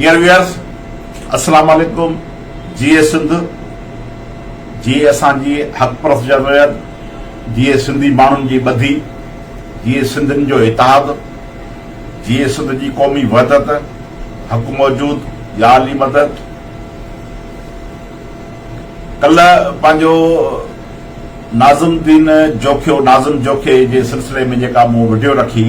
Dear Viewers السلام عليڪم جيئي سنڌ جيئي اسان جي حق پرست جمعيت جيئي سنڌي ماڻهن جي ٻڌي جيئي سنڌين جو اتحاد جيئي سنڌ جي قومي وحدت حق موجود يا علي مدد ڪلهه پنهنجو ناظم دين جوکيو ناظم جوکي جي سلسلي ۾ جيڪا مون وڊيو رکي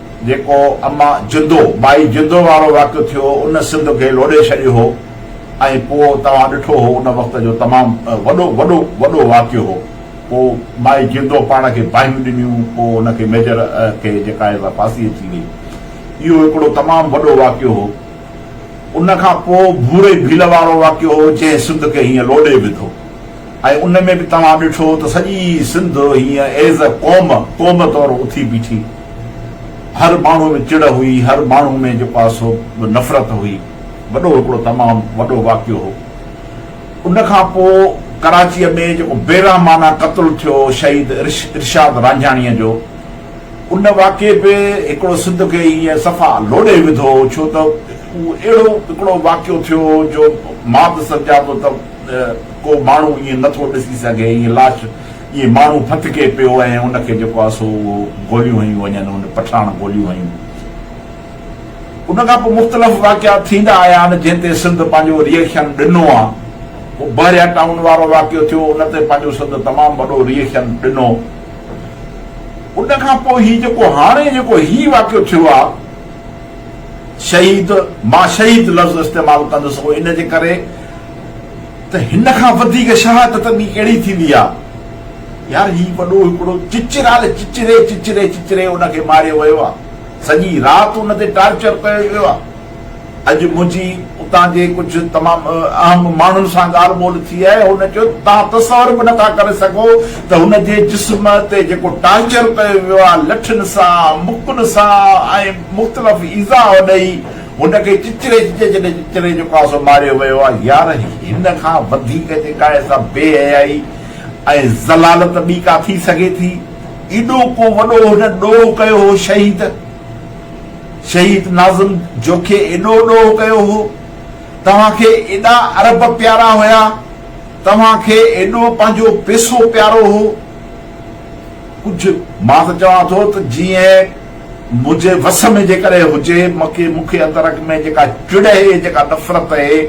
جيڪو اما جندو، مائي جندو وارو واقعو ٿيو ان سنڌ کي لوڏي ڇڏيو هو ۽ پوء توهان ڏٺو هو ان وقت جو تمام وڏو وڏو وڏو واقعو هو پوء مائي جندو پاڻ کي باهيون ڏنيون پوء ان کي ميجر کي جيڪا آهي سا ڦاسي اچي وئي اهو هڪڙو تمام وڏو واقعو هو ان کان پوء ڀوري ڀيل وارو واقعو هو جنهن سنڌ کي هيئن لوڏي وڌو ۽ ان ۾ به توهان ڏٺو ته سڄي سنڌ هيئن ايز اي قوم قوم طور اٿي بيٺي هر ماڻهوء ۾ چڙ هئي، هر ماڻهوء ۾ جيڪو آهي سو به نفرت هئي. وڏو هڪڙو تمام وڏو واقعو هو. ان کان پوء ڪراچيء ۾ جيڪو بيرحمانه قتل ٿيو شهيد ارشاد رانجهاڻيء جو، ان واقعي به هڪڙو سنڌ کي ائين صفا لوڏي وڌو هو، ڇو ته اهو اهڙو هڪڙو واقعو ٿيو هو جو ماڌ سرجاء جو ته ڪو ماڻهو ائين نه ٿو ڏسي سگهي، ائين لاش اهي ماڻهو ڦٿڪي پيو ۽ ان کي جيڪو آهي سو اهو گوليون هنيون وڃن ان پٺاڻ گوليون هنيون ان کان پوء مختلف واقعا ٿيندا آيا آهن جنهن تي سنڌ پنهنجو ريئڪشن ڏنو آهي پوء بحريا ٽائون وارو واقعو ٿيو ان تي پنهنجو سنڌ تمام وڏو ريئڪشن ڏنو ان کان پوء هي جيڪو هاڻي جيڪو هي واقعو ٿيو آهي شهيد مان شهيد لفظ استعمال ڪندس ان جي ڪري ته هن کان وڌيڪ شهادت ٻي ڪهڙي ٿيندي آ؟ يار هي وڏو هڪڙو چچرال چچري چچري چچري ان کي ماريو ويو آ. سڄي رات ان تي ٽارچر ڪيو ويو آ. اڄ منهنجي اتان جي ڪجهه تمام اهم ماڻهن سان ڳالهه ٻولهه ٿي آهي هن چيو ته توهان تصور به نٿا ڪري سگهو ته هن جي جسم تي جيڪو ٽارچر ڪيو ويو آ لٺين سان مڪن سان ۽ مختلف ايذاء ڏئي هن کي چچري جي جهنجهه چچري جو ڪاسو ماريو ويو آهي. يار هن کان وڌيڪ جي ڪا ايسا بي حيائي ۽ ذلالت ٻي ڪا ٿي سگهي ٿي؟ ايڏو ڪو وڏو هن ڏوهه ڪيو هو شهيد شهيد ناظم جوکي ايڏو ڏوهه ڪيو هو. توهان کي ايڏا ارب پيارا هيا توهان کي ايڏو پنهنجو پيسو پيارو هو. ڪجهه مان ته چوان ٿو ته جيئن منهنجي وس ۾ جيڪڏهن هجي، مکي مکي اندرک ۾ جيڪا چڙ اهي، جيڪا نفرت اهي،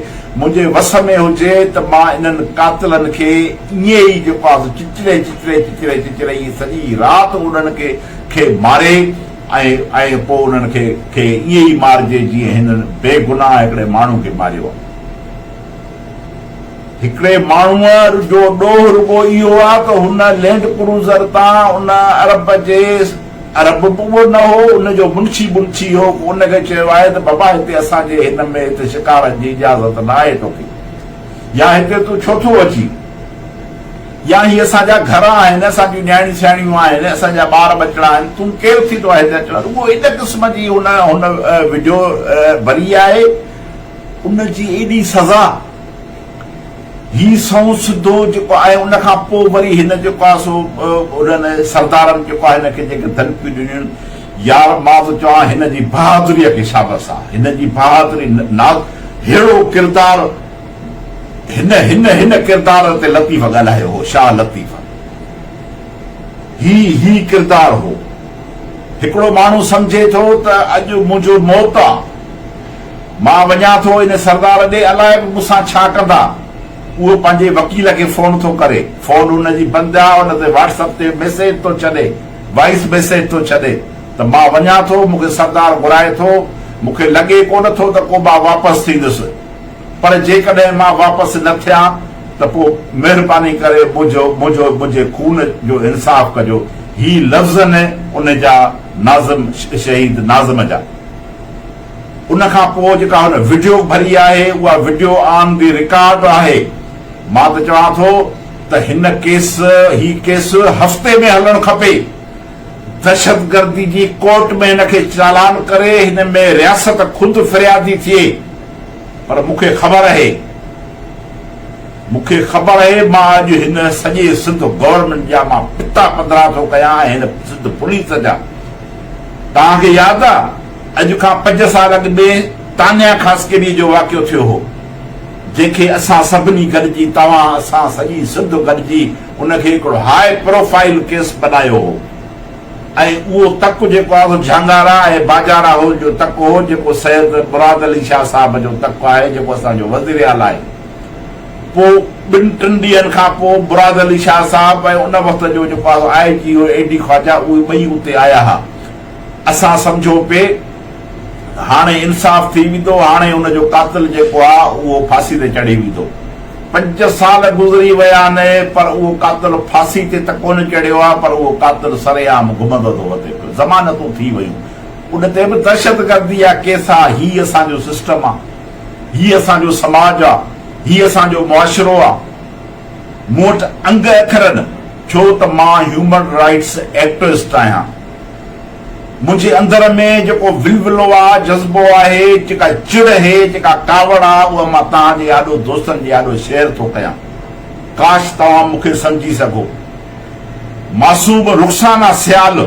منهنجي وس ۾ هجي ته مان انهن قاتلن کي ائين ئي جيڪو آس چچري چچري چچري چچري ائين سڄي رات انهن کي کي ماري ۽ ۽ پوء انهن کي کي ائين ئي مارجي جيئن هنن بي گناهه هڪڙي ماڻهو کي ماريو آهي. هڪڙي ماڻهوء جو ڏوهه رڳو اهو آهي ته هن لينڊ ڪروزر تان ان عرب جي عرب ڪوڙ نه هو، ان جو منشي بنشي هو، ان کي چيو آهي ته بابا هتي اسان جي هن ۾ هتي شڪارن جي اجازت نه آهي توکي، يا هتي تون ڇو ٿو اچين، يا هي اسان جا گهر آهن، اسان جون نياڻيون سياڻيون آهن، اسان جا ٻار ٻچڙا آهن، تون ڪير ٿي توهان هتي اچڻ، رڳو ان قسم جي هن هن ويڊيو ڀري آهي، ان جي ايڏي سزا. هي سنئون سڌو جيڪو آهي ان کان پوء وري هن جيڪو آهي سو انهن سردارن جيڪو آهي هن کي جيڪي ڌمڪيون ڏنيون يار مان ٿو چوان هن جي بهادريء کي شابس آهي هن جي بهادري ناز ههڙو ڪردار هن هن هن ڪردار تي لطيف ڳالهايو هو شاهه لطيف هي هي ڪردار هو هڪڙو ماڻهو سمجهي ٿو ته اڄ منهنجو موت آ مان وڃان ٿو ان سردار ڏي، الائي به مون سان ڇا ڪندا. اهو پنهنجي وڪيل کي فون ٿو ڪري. فون ان جي بند آ، ان تي واٽس اپ تي ميسيج ٿو ڇڏي، وائيس ميسيج ٿو ڇڏي ته مان وڃان ٿو، مون کي سردار گهرائي ٿو، مون کي لڳي ڪونه ٿو ته ڪو مان واپس ٿيندس. پر جيڪڏهن مان واپس نه ٿيان ته پوء مهرباني ڪري منهنجو منهنجو منهنجي خون جو انصاف ڪجو. هي لفظ ان ان جا ناظم شهيد ناظم جا. ان کان پوء جيڪا هن وڊيو ڀري آهي اها وڊيو آن دي رڪارڊ آهي مان ته چوان ٿو ته هن ڪيس هي ڪيس هفتي ۾ هلڻ کپي دهشتگردي جي ڪورٽ ۾ هن کي چالان ڪري هن ۾ رياست خود فريادي ٿئي پر مون کي خبر اهي مون کي خبر اهي مان اڄ هن سڄي سنڌ گورنمينٽ جا مان پتا پڌرا ٿو ڪيان ۽ هن سنڌ پوليس جا توهان کي ياد آ اڄ کان پنج سال اڳ ۾ تانيا خاصخيليء جو واقعو ٿيو هو، جنهن کي اسان سڀني گڏجي، توهان، اسان، سڄي سنڌ گڏجي ان کي هڪڙو هاء پروفائيل ڪيس بنايو هو ۽ اهو تڪ جيڪو آهي اهو جهانگارا ۽ باجا راهول جو تڪ هو، جيڪو سيد مراد علي شاهه صاحب جو تڪ آهي، جيڪو اسان جو وزيراعليٰ آهي. پوء ٻن ٽن ڏينهن کان پوء مراد علي شاهه صاحب ۽ ان وقت جو جيڪو آهي آء جي او اي ڊي خواجا اهي ٻئي اتي آيا ها. اسان سمجهو پي هاڻي انصاف ٿي ويندو، هاڻي ان جو قاتل جيڪو آ اهو ڦاسي تي چڙهي ويندو. پنج سال گذري ويا آهن پر اهو قاتل ڦاسي تي ته ڪونه چڙهيو آ پر اهو قاتل سري عام گهمندو ٿو وتي پيو. ضمانتون ٿي ويون. ان تي به دهشت گردي جا ڪيس آ. هي اسان جو سسٽم آ. هي اسان جو سماج آ. هي اسان جو معاشرو آ. مون وٽ انگ اکر نه ڇو ته مان هيومن رائيٽس ايڪٽوسٽ آهيان. منهنجي اندر ۾ جيڪو ولولو آ، جذبو آهي، جيڪا چڙ هي، جيڪا ڪاوڙ آ، اها مان توهان جي آڏو، دوستن جي آڏو شيئر ٿو ڪيان. ڪاش توهان مون کي سمجهي سگهو. معصوم رخسانه سيال،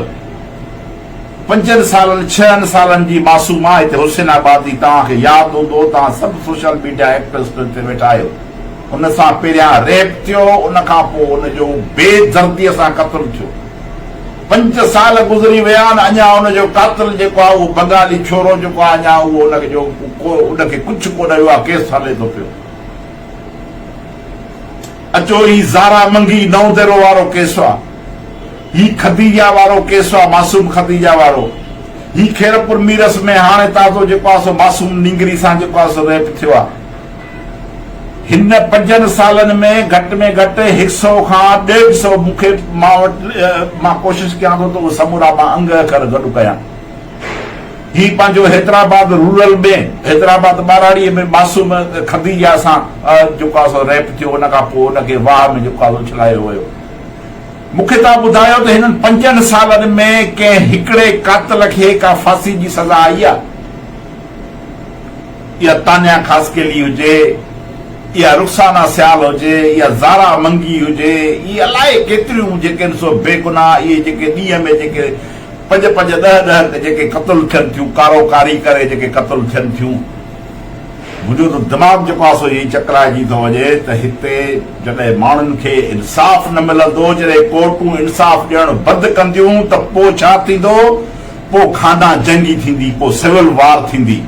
پنجن سالن، ڇهن سالن جي معصوم آ، هتي حسين آباد جي، توهان کي ياد هوندو، توهان سڀ سوشل ميڊيا ايڪٽوسٽ هتي ويٺا آهيو، ان سان پهريان ريپ ٿيو، ان کان پوء ان جو بي درديء سان قتل ٿيو. پنج سال گذري ويا آهن اڃا ان جو قاتل جيڪو آهي اهو بنگالي ڇورو جيڪو آهي اڃا اهو ان جو ڪو ان کي ڪڇ ڪونه ويو آهي ڪيس هلي ٿو پيو اچو هي زارا منگي نئون ديرو وارو ڪيس آهي هي خديجا وارو ڪيس آهي معصوم خديجا وارو هي خيرپور ميرس ۾ هاڻي تازو جيڪو آهي سو معصوم نينگري سان جيڪو آهي سو ريپ ٿيو آهي هن پنجن سالن ۾ گهٽ ۾ گهٽ هڪ سئو کان ڏيڍ سئو مون کي مان وٽ مان ڪوشش ڪيان ٿو ته اهي سمورا مان انگ اکر گڏ ڪيان. هي پنهنجو حيدرآباد رورل ۾ حيدرآباد ٻهراڙيء ۾ معصوم خديجه سان جيڪو آهي سو ريپ ٿيو ان کان پوء ان کي واهه ۾ جيڪو آهي سو اڇلايو ويو. مون کي توهان ٻڌايو ته هنن پنجن سالن ۾ ڪنهن هڪڙي قاتل کي ڪا ڦاسي جي سزا آئي آهي؟ اها تانيا خاصخيلي هجي، اها رخسانه سيال هجي يا زارا منگي هجي، اهي الائي ڪيتريون جيڪي آهن سو بيگناهه اهي جيڪي ڏينهن ۾ جيڪي پنج پنج ڏهه ڏهه جيڪي قتل ٿين ٿيون ڪارو ڪاري ڪري جيڪي قتل ٿين ٿيون. منهنجو ته دماغ جيڪو آهي سو ائين چڪرائجي ٿو وڃي ته هتي جڏهن ماڻهن کي انصاف نه ملندو، جڏهن ڪورٽون انصاف ڏيڻ بند ڪنديون ته پوء ڇا ٿيندو؟ پوء خانه جنگي ٿيندي، پوء سول وار ٿيندي.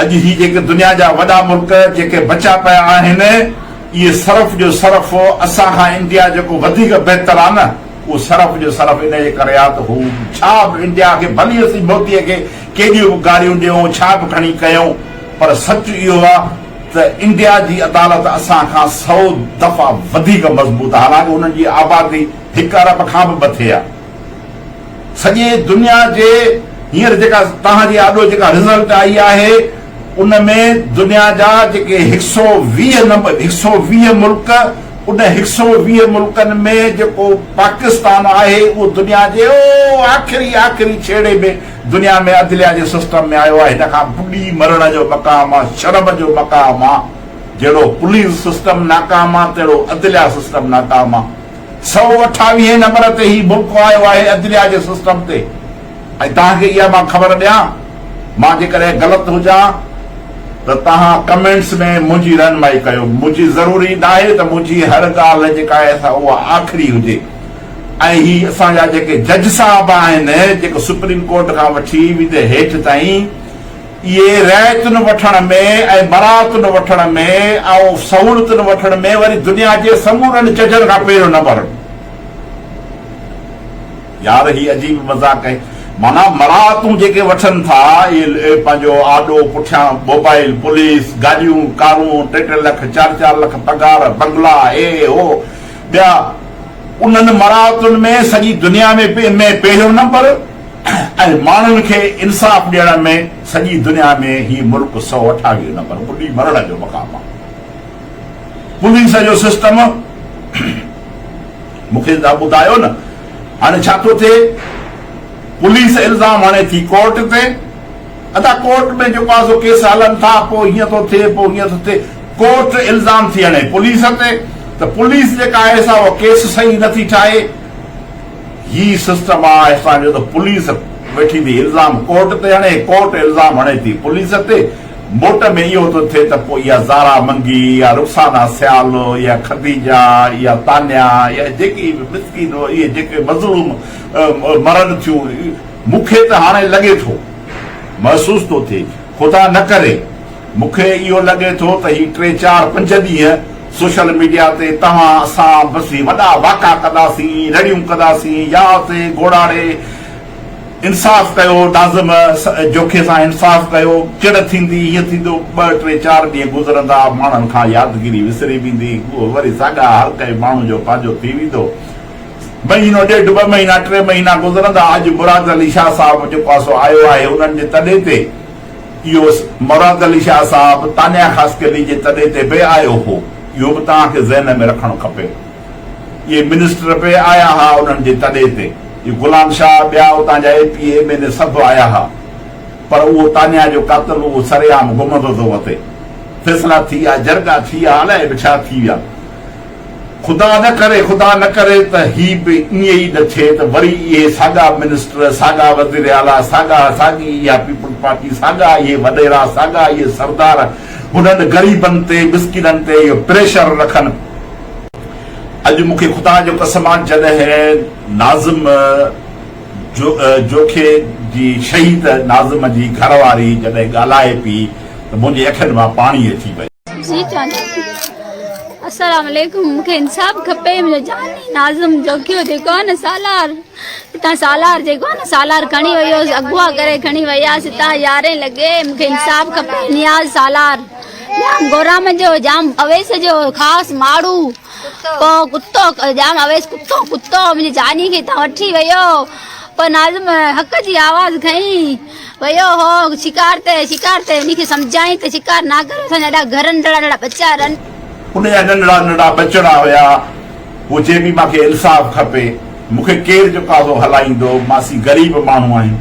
اڄ هي جيڪي دنيا جا وڏا ملڪ جيڪي بچيا پيا آهن اهي صرف جو صرف اسان کان انڊيا جيڪو وڌيڪ بهتر آ نه اهو صرف جو صرف ان جي ڪري آ ته هو ڇا به انڊيا کي ڀلي اسين موتي کي ڪيڏيون به گاريون ڏيون ڇا به کڻي ڪيون پر سچ اهو آ ته انڊيا جي عدالت اسان کان سئو دفعا وڌيڪ مضبوط آ حالانڪه انهن جي آبادي هڪ ارب کان به مٿي آ. سڄي دنيا جي هينئر جيڪا توهان جي آڏو جيڪا رزلٽ آئي آهي ان ۾ دنيا جا جيڪي هڪ سئو ويهه نمبر هڪ سئو ويهه ملڪ ان هڪ سئو ويهه ملڪن ۾ جيڪو پاڪستان آهي اهو دنيا جي او آخري آخري ڇيڙي ۾ دنيا ۾ عدليه جي سسٽم ۾ آيو آهي هن کان ٻڏي مرڻ جو مقام آ شرم جو مقام آ جهڙو پوليس سسٽم ناڪام آ تهڙو عدليه سسٽم ناڪام آ. سؤ اٺاويهين نمبر تي هي بوڪ آيو آهي عدليا جي سسٽم تي ۽ توهان کي اها مان خبر ڏيان مان جيڪڏهن غلط هجان ته توهان ڪمينٽس ۾ منهنجي رهنمائي ڪيو منهنجي ضروري ناهي ته منهنجي هر ڳالهه جيڪا آهي سا اها آخري هجي ۽ هي اسان جا جيڪي جج صاحب آهن جيڪو سپريم ڪورٽ کان وٺي ويندي هيٺ تائين اهي رعيتن وٺڻ ۾ ۽ برائتن وٺڻ ۾ ۽ سهولتن وٺڻ ۾ وري دنيا جي سمورن ججن کان پهريون نمبر هڻن. يار هي عجيب مذاق آهي. معنيٰ مراعتون جيڪي وٺن ٿا اهي پنهنجو آڏو، پٺيان موبائل، پوليس، گاڏيون، ڪارون، ٽي ٽي لک، چار چار لک پگهار، بنگلا، هي هو ٻيا انهن مراعتن ۾ سڄي دنيا ۾ ۾ پهريون نمبر. ۽ ماڻهن کي انصاف ڏيڻ ۾ سڄي دنيا ۾ هي ملڪ سؤ اٺاويهه نمبر ٻڏي مرڻ جو مقام آهي. پوليس جو سسٽم مون کي تنهن ٻڌايو نه هاڻي ڇا ٿو ٿئي پوليس الزام هڻي ٿي ڪورٽ تي ادا ڪورٽ ۾ جيڪو آسو ڪيس هلن ٿا پوء هيئن ٿو ٿئي پوء هيئن ٿو ٿئي ڪورٽ الزام ٿي هڻي پوليس تي ته پوليس جيڪا آهي سا اهو ڪيس صحيح نه ٿي ٺاهي. هي سسٽم آ اسان جو ته پوليس ويٺي ٿي الزام ڪورٽ تي هڻي ڪورٽ الزام هڻي ٿي پوليس تي موٽ ۾ اهو ٿو ٿئي ته پوء اها زارا منگي يا رخسانه سيال يا خديجه يا تانيا يا جيڪي به مسڪين اهي جيڪي مظلوم مرن ٿيون مون کي ته هاڻي لڳي ٿو محسوس ٿو ٿئي خدا نه ڪري مون کي اهو لڳي ٿو ته هي ٽي چار پنج ڏينهن سوشل ميڊيا تي توهان اسان بس هي وڏا واڪا ڪنداسين، رڙيون ڪنداسين، يا تي گوڙاڙي انصاف ڪيو، ناظم جوکي سان انصاف ڪيو، چڙ ٿيندي، هيئن ٿيندو، ٻه ٽي چار ڏينهن گذرندا، ماڻهن کان يادگيري وسري ويندي، هو وري ساڳا هر ڪنهن ماڻهو جو پنهنجو ٿي ويندو، مهينو ڏيڍ ٻه مهينا ٽي مهينا گذرندا، اڄ مراد علي شاهه صاحب جيڪو آسو آيو آهي انهن جي تڏي تي. يوس، مراد علي شاهه صاحب تانيا خاصخيلي جي تڏي تي به آيو هو، اهو به توهان کي ذهن ۾ رکڻ کپي. اهي منسٽر به آيا ها انهن جي تڏي تي. اهي غلام شاهه، ٻيا اتان جا A P, M N A سڀ آيا ها. پر اهو تانيا جو قاتل اهو سرعام گمزو ٿو وتي. فيصلا ٿي يا جرڳا ٿي يا الائي به ڇا ٿي ويا. خدا نه ڪري خدا نه ڪري ته هي به ائين ئي نه ٿئي ته وري اهي ساڳا منسٽر، ساڳا وزير اعليٰ، ساڳا ساڳي اها پيپلز پارٽي، ساڳا اهي وڏيرا، ساڳا اهي سردار هنن غريبن تي، مسڪينن تي اهو پريشر رکن. اڄ مون کي خدا جو قسم آ جڏهن ناظم جوکي جي شهيد ناظم جي گهر واري جڏهن ڳالهائي پي ته منهنجي اکين مان پاڻي اچي ويو. جي چاند السلام عليڪم مونکي انصاف کپي منهنجو جاني ناظم جوکيو جيڪو نه سالار تان سالار جيڪو نه سالار کڻي ويو اغوا ڪري کڻي ويا ستا يارين لڳي مونکي انصاف کپي نياز سالار جام گورام جو جام اويس جو خاص ماڙو پو ڪتو جام اويس ڪتو ڪتو منهنجي جاني کي تان وٺي ويو پو ناظم حق جي آواز کئين ويو هو شڪار تي شڪار تي انهي کي سمجهائين ته شڪار نه ڪري اسان جا اهڙا گهر ننڍڙا ننڍڙا ٻچا رن. ان جا ننڍڙا ننڍڙا ٻچڙا هيا هو چئي پي مان کي انصاف کپي مون کي ڪير جو قاضو هلائيندو مان سي غريب ماڻهو آهين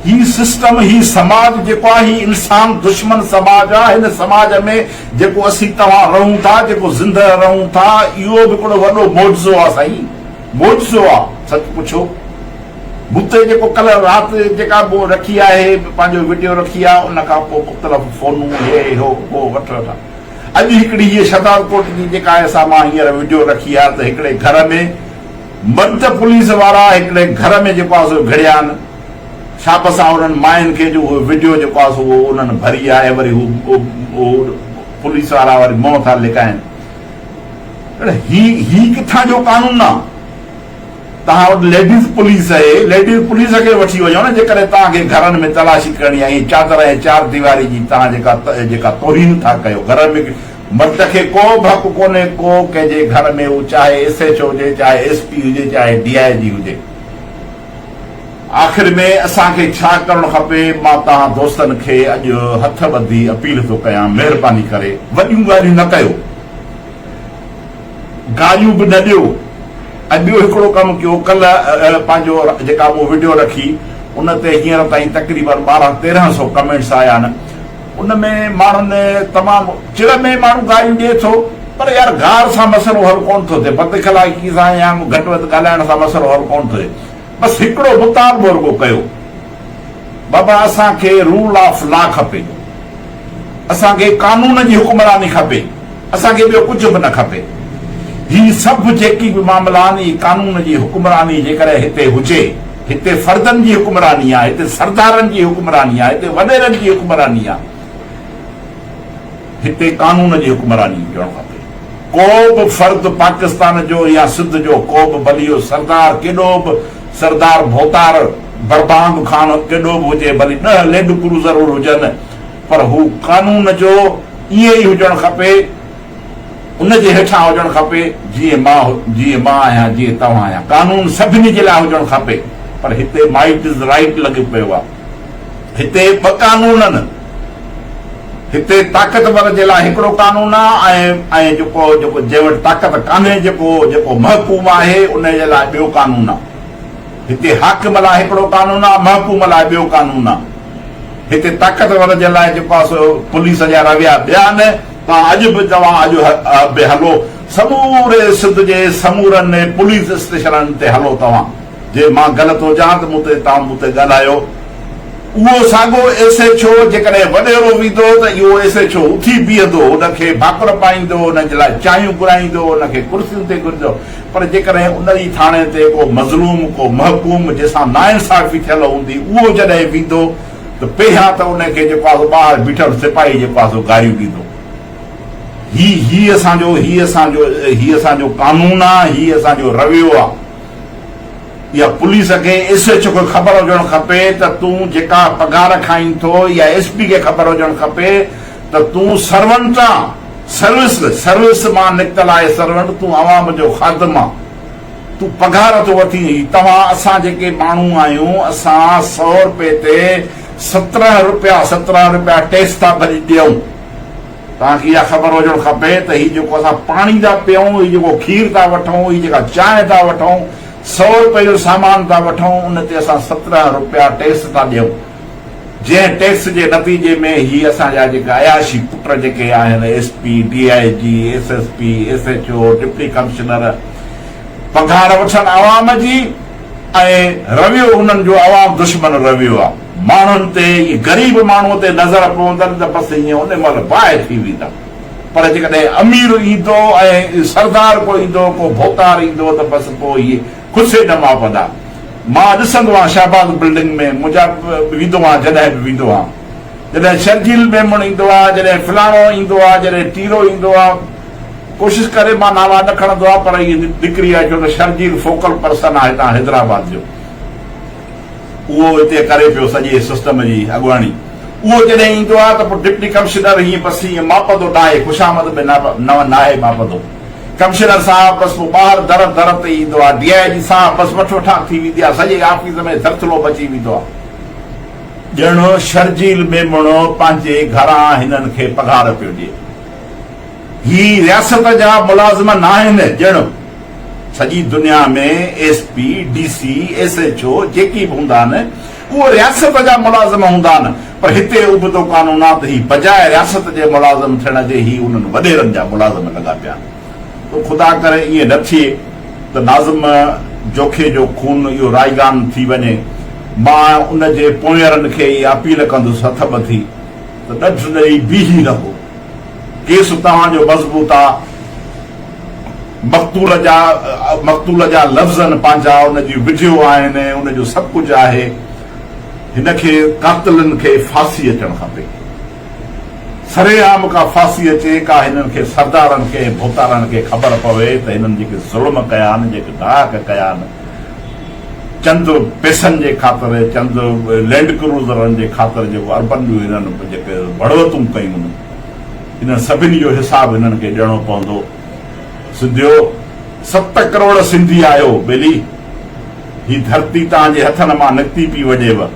هي سسٽم هي سماج جيڪو آهي هي انسان دشمن سماج آ هن سماج ۾ جيڪو اسين توهان رهون ٿا جيڪو زندهه رهون ٿا اهو به ڪهڙو وڏو معجزو آ سائين معجزو آ سچ پڇو مون تي جيڪو ڪلهه رات جيڪا به رکي آهي پنهنجو وڊيو رکي آ ان کان پوء مختلف فونون هي هو ڪو وٺ وٺ اڄ هڪڙي هيء شهدادڪوٽ جي جيڪا آهي سا مان هينئر وڊيو رکي آ ته هڪڙي گهر ۾ مرد پوليس وارا هڪڙي گهر ۾ جيڪو آ سو گهڙيان شابس آ انهن ماين کي جو اهو وڊيو جيڪو آ سو اهو انهن ڀري آهي وري هو اهو پوليس وارا وري منهن ٿا لڪائين هي هي ڪٿان جو قانون آ. توهان وٽ ليڊيز پوليس اهي ليڊيز پوليس کي وٺي وڃو نه جيڪڏهن توهان کي گهرن ۾ تلاشي ڪرڻي آهي اهي چادر ۽ چار ديواري جي توهان جيڪا جيڪا توهين ٿا ڪيو گهرن ۾ مرد کي ڪو به حق ڪونهي ڪو ڪنهن جي گهر ۾ هو چاهي ايس ايڇ او هجي چاهي ايس پي هجي چاهي ڊي آئي جي هجي آخر ۾ اسان کي ڇا ڪرڻ کپي مان توهان دوستن کي اڄ هٿ ٻڌي اپيل ٿو ڪيان مهرباني ڪري وڏيون ڳالهيون نه ڪيو. گاريون به نه ڏيو ۽ ٻيو هڪڙو ڪم ڪيو ڪل پنهنجو جيڪا مون وڊيو رکي ان تي هينئر تائين تقريبن ٻارهن تيرهن سو ڪمينٽس آيا آهن ان ۾ ماڻهن تمام چڙ ۾ ماڻهو گاريون ڏي ٿو پر يار گار سان مسئلو حل ڪونه ٿو ٿئي بد اخلاقي سان يا گهٽ وڌ ڳالهائڻ سان مسئلو حل ڪونه ٿو ٿئي بس هڪڙو مطالبو رڳو ڪيو بابا اسان کي رول آف لا کپي اسان کي قانون جي حڪمراني کپي اسان کي ٻيو ڪجهه به نه کپي هي سڀ جيڪي به معاملا آهن اهي قانون جي حڪمراني جيڪڏهن هتي هجي هتي فردن جي حڪمراني آهي هتي سردارن جي حڪمراني آهي هتي وڏيرن جي حڪمراني آهي. هتي قانون جي حڪمراني هجڻ کپي. ڪو به فرد پاڪستان جو يا سنڌ جو ڪو به بليو سردار ڪيڏو به سردار ڀوتار بربانگ خان ڪيڏو به هجي ڀلي ڏهه ليڊ ڪروزر هجن پر هو قانون جو ائين ئي هجڻ کپي ان جي هيٺان هجڻ کپي جيئن مان جيئن مان آهيان جيئن توهان آهيان قانون سڀني جي لاء هجڻ کپي پر هتي مائٽ از رائٽ لڳي پيو آهي. هتي ٻه قانون آهن، هتي طاقتور جي لاء هڪڙو قانون آهي ۽ جيڪو جيڪو جنهن وٽ طاقت ڪانهي جيڪو جيڪو محڪوم آهي انهي جي لاء ٻيو قانون آهي. هتي حاڪم لاء هڪڙو قانون آهي محڪوم لاء ٻيو قانون آهي. هتي طاقتور جي لاء جيڪو آهي سو پوليس جا رويا ٻيا آهن. توهان اڄ به توهان اڄ به هلو سموري سنڌ جي سمورن پوليس اسٽيشنن تي هلو توهان. جي مان غلط هجان ته مون تي تان مون تي ڳالهايو. اهو ساڳو ايس ايڇ او جيڪڏهن وڏيرو ويندو ته اهو ايس ايڇ او اٿي بيهندو، هن کي ڀاڪر پائيندو، هن جي لاء چانهيون گهرائيندو، هن کي ڪرسين تي گهرندو. پر جيڪڏهن ان ئي ٿاڻي تي ڪو مظلوم، ڪو محڪوم جنهن سان ناانصافي ٿيل هوندي اهو جڏهن ويندو ته پهريان ته ان کي جيڪو آهي سو ٻاهر بيٺل سپاهي جيڪو آهي سو گاريون ڏيندو. هي هي اسان جو هي اسان جو هي اسان جو قانون آهي، هي اسان جو رويو آهي. يا پوليس کي ايس ايڇ او کي خبر هجڻ کپي ته تون جيڪا پگهار کائين ٿو يا ايس پي کي خبر هجڻ کپي ته تون سرونٽ آن، سروس، سروس مان نڪتل آهي سرونٽ تون عوام جو خادم آن، تون پگهار ٿو وٺين هي توهان اسان جيڪي ماڻهو آهيون اسان سئو روپي تي سترهن روپيا سترهن روپيا ٽيڪس ٿا ڀري ڏيون. توهان کي اها خبر هجڻ کپي ته هي جيڪو اسان پاڻي ٿا پيئون، هي جيڪو کير ٿا وٺون، هي جيڪا چانهه ٿا وٺون، سؤ رپئي جو سامان ٿا وٺون، ان تي اسان سترهن رپيا ٽيڪس ٿا ڏيون، جنهن ٽيڪس جي نتيجي ۾ هي اسان جا جيڪا عياشي پٽ جيڪي آهن S P, D I G, S S P, S H O, deputy commissioner پگهار وٺن عوام جي ۽ رويو انهن جو عوام دشمن رويو آ. ماڻهن تي ۽ غريب ماڻهوء تي نظر پوندن ته بس ائين ان مهل باهه ٿي ويندا، پر جيڪڏهن امير ايندو ۽ سردار ڪو ايندو، ڪو ڀوتار ايندو ته بس پوء اهي خسي نه ماپندا. مان ڏسندو آهيان شهباز بلڊنگ ۾ منهنجا ويندو آهيان جڏهن به ويندو آهيان. جڏهن شرجيل ميمڻ ايندو آهي، جڏهن فلاڻو ايندو آهي، جڏهن ٽيرو ايندو آهي. ڪوشش ڪري مان نالا نه کڻندو آهيان پر ائين نڪري آهي ڇو ته شرجيل فوڪل پرسن آهي هتان حيدرآباد جو. اهو اتي ڪري پيو سڄي سسٽم جي اڳواڻي. اهو جڏهن ايندو آهي ته پوء ڊپٽي ڪمشنر هيئن پسي هيئن ماپندو ناهي، خوشامد به ناهي ماپندو. ڪمشنر صاحب بس پوء ٻاهر در در تي ايندو آهي. ڊي آء جي صاحب بس وٺ وٺان ٿي ويندي آهي، سڄي آفيس ۾ ڌرٿلو مچي ويندو آهي. ڄڻ شرجيل ميمڻو پنهنجي گهران هنن کي پگهار پيو ڏئي. هي رياست جا ملازم ناهن، ڄڻ. سڄي دنيا ۾ S P, D C, S H O جيڪي به هوندا آهن اهي رياست جا ملازم هوندا آهن پر هتي ابتو قانون آ ته هي بجاء رياست جي ملازم ٿيڻ جي هي انهن وڏيرن جا ملازم لڳا پيا آهن تو خدا ڪري ائين نه ٿئي ته ناظم جوکي جو خون اهو رائگان ٿي وڃي مان ان جي پونئيرن کي اها اپيل ڪندس هٿ ٻڌي ته ڏڍ ڏئي بيهي رهو. کيس توهان جو مضبوطا مقتول جا مقتول جا لفظ آهن پنهنجا ان جي وڊيو آهن ۽ ان جو سڀ ڪجهه آهي هن کي قاتلن کي ڦاسي اچڻ کپي سري عام ڪا ڦاسي اچي ڪا هنن کي سردارن کي ۽ ڀوتارن کي خبر پوي ته هنن جيڪي ظلم ڪيا آهن جيڪي ڊاڪ ڪيا آهن چند پئسن جي خاطر، چند لينڊ ڪروزرن جي خاطر جيڪو اربن جون هنن جيڪي بڙوتون ڪيون، انهن سڀني جو حساب هنن کي ڏيڻو پوندو. سنڌيو! ست ڪروڙ سنڌي آهيو، ٻيلي! هي ڌرتي توهان جي هٿن مان نڪتي پي وڄيو.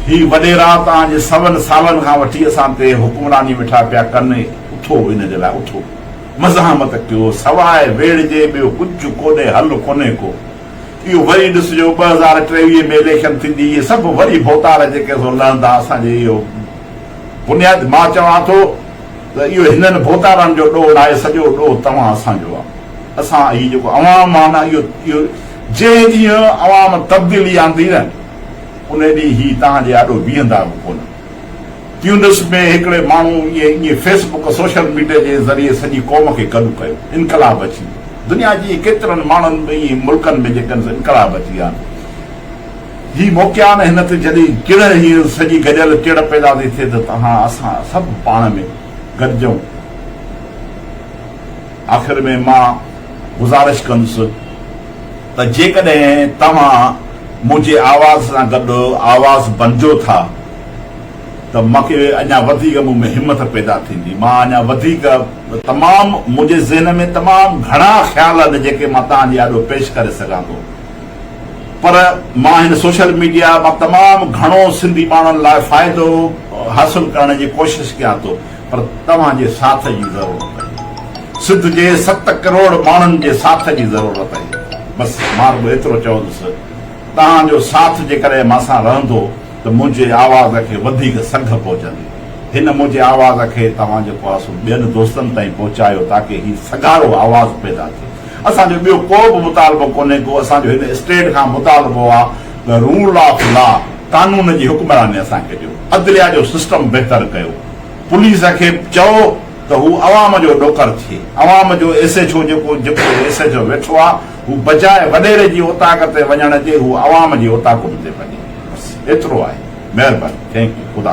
هي وڏيرا توهان جي سون سالن کان وٺي اسان تي حڪمراني ويٺا پيا ڪن، اٿو ان جي لاء اٿو. مزاحمت ڪيو سواء ويڙهه جي ٻيو ڪجهه ڪوڏي حل ڪونهي ڪو اهو وري ڏس جو ٻه هزار ٽيويهه ۾ اليڪشن ٿيندي اهي سڀ وري ڀوتار جيڪي سو لهندا اسان جي اهو بنياد مان چوان ٿو ته اهو هنن ڀوتارن جو ڏوهه ناهي سڄو ڏوهه توهان اسان جو آهي اسان هي جيڪو عوام آهي نه اهو اهو جنهن ڏينهن عوام تبديلي آندي نه انهي ڏينهن هي توهان جي آڏو بيهندا به ڪونه. تيونس ۾ هڪڙي ماڻهو ائين فيس بڪ، سوشل ميڊيا، جي ذريعي سڄي قوم کي گڏ ڪيو. انقلاب اچي ويو. دنيا جي ڪيترن ماڻهن ۾ ائين ملڪن ۾ جيڪن سان انقلاب اچي ويا آهن. هي موقعا آهن هن تي جڏهن ڪڙهه هي سڄي گڏيل ڪڙهه پيدا ٿي ٿئي ته تهان اسان سڀ پاڻ ۾ گڏجون. آخر ۾ مان گذارش ڪندس. ته جيڪڏهن توهان منهنجي آواز سان گڏ آواز بنجو ٿا ته مونکي اڃا وڌيڪ مون ۾ همٿ پيدا ٿيندي مان اڃا وڌيڪ تمام منهنجي ذهن ۾ تمام گهڻا خيال آهن جيڪي مان توهان جي آڏو پيش ڪري سگهان ٿو پر مان هن سوشل ميڊيا مان تمام گهڻو سنڌي ماڻهن لاء فائدو حاصل ڪرڻ جي ڪوشش ڪيان ٿو. پر توهان جي ساٿ جي ضرورت اهي. سنڌ جي ست ڪروڙ ماڻهن جي ساٿ جي ضرورت اهي. بس مان رڳو ايترو چوندس توهان جو ساٿ جيڪڏهن مان سان رهندو ته منهنجي آواز کي وڌيڪ سگهه پهچندي. هن منهنجي آواز کي توهان جي پاسو ٻين دوستن تائين پهچايو تاڪه هي سگهارو آواز پيدا ٿئي. اسان جو ٻيو ڪو به مطالبو ڪونهي ڪو اسان جو هن اسٽيٽ کان مطالبو آ ته رول آف لا قانون جي حڪمراني اسان کي ڏيو. عدليه جو سسٽم بهتر ڪيو. پوليس کي به چئو ته هو عوام جو ڏوڪڙ ٿئي، عوام جو ايس ايڇ او جيڪو جيڪو ايس ايڇ او ويٺو آ هو بجاء وڏيري جي اوطاق تي وڃڻ جي هو عوام جي اوطاقن تي وڃي بس ايترو آهي مهرباني ٿينڪ يو خدا.